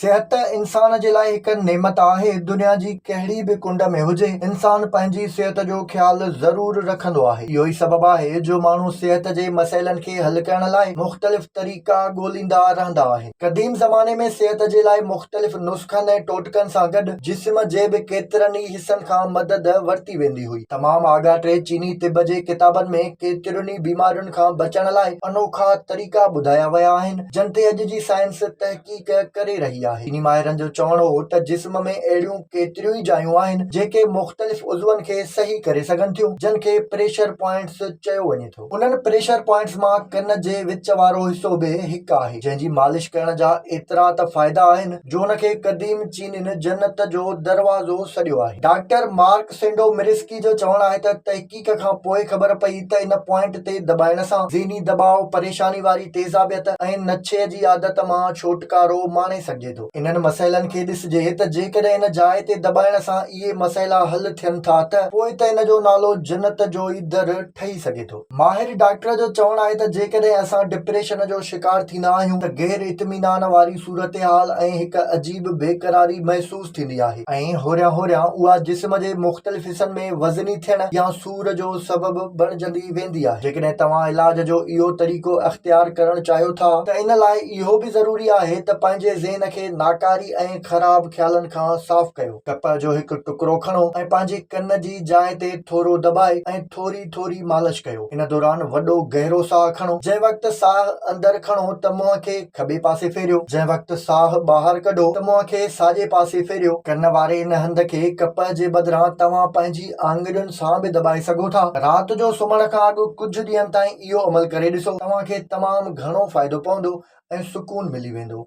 صحت انسان جي لاء هڪ نعمت آهي. دنيا جي ڪهڙي به ڪنڊ ۾ هجي، انسان پنهنجي صحت جو خيال ضرور رکندو آهي. اهو ئي سبب آهي جو ماڻهو صحت جي مسئلن کي حل ڪرڻ لاء مختلف طريقا ڳوليندا رهندا آهن. قديم زماني ۾ صحت جي لاء مختلف نسخن ۽ ٽوٽڪن سان گڏ جسم جي به ڪيترن ئي حصن کان مدد ورتي ويندي هئي. تمام آڳاٽي چيني طب جي ڪتابن ۾ ڪيترين ئي بيمارين کان بچڻ لاء انوکا طريقا ٻڌايا ويا آهن، جن تي اڄ جي سائنس تحقيق. تحقيق ڪري رهي آهي. چيني ماهرن جو چوڻ هو ته جسم ۾ اهڙيون ڪيتريون ئي جايون آهن جيڪي مختلف عضون کي صحيح ڪري سگهن ٿيون جن کي پريشر پوائنٽس چيو وڃي ٿو. انهن پريشر پوائنٽس مان ڪن جي وچ وارو حصو به هڪ آهي جنهن جي مالش ڪرڻ جا ايترا ته فائدا آهن جو ان کي قديم چينين جنت جو دروازو سڏيو آهي. ڊاڪٽر مارڪ سينڊو مريسڪي جو چوڻ آهي ته تحقيق. تحقيق کان پوء خبر پئي ته ان پوائنٽ تي دٻائڻ سان ذهني دٻاء، پريشاني واري تيزابيت ۽ نشي جي عادت مان ڇوٽڪارو ماڻي سگهجي ٿو. انهن مسئلن کي ڏسجي ته جيڪڏهن ان جاء تي دٻائڻ سان اهي مسئلا حل ٿين ٿا ته پوء ته ان جو نالو جنت جو ئي در ٺهي سگهي ٿو. ماهر ڊاڪٽر جو چوڻ آهي ته جيڪڏهن اسان ڊپريشن جو شڪار ٿيندا آهيون ته غير اطمينان واري صورتحال ۽ هڪ عجيب بيقراري محسوس محسوس ٿيندي آهي ۽ هوريان هوريان اها جسم جي مختلف حصن ۾ وزني ٿيڻ يا سور جو سبب بڻجندي ويندي آهي جيڪڏهن توهان علاج جو اهو طريقو اختيار ڪرڻ چاهيو ٿا ته ان لاء اهو به ضروري آهي ته پنهنجي ذهن کي ناڪاري ۽ خراب خيالن کان صاف ڪيو ڪپهه جو هڪ ٽڪرو کڻو ۽ پنهنجي ڪن جي جاء تي ٿورو دٻائي ۽ ٿوري ٿوري مالش ڪيو. ان دوران وڏو گهرو ساهه کڻو. جنهن وقت ساهه اندر کڻو ته منهن کي کٻي پاسي ڦيريو. جنهن وقت ساهه ٻاهر ڪڍو ته منهن کي ساڄي پاسي ڦيريو. ڪن واري ان هنڌ کي ڪپهه جي بدران توهان پنهنجي آڱرين سان به دٻائي سگهو ٿا. رات جو سمهڻ کان اڳ ڪجهه ڏينهن تائين اهو عمل ڪري ڏسو. توهان کي تمام گهڻو فائدو پوندو ۽ سڪون ملي ويندو.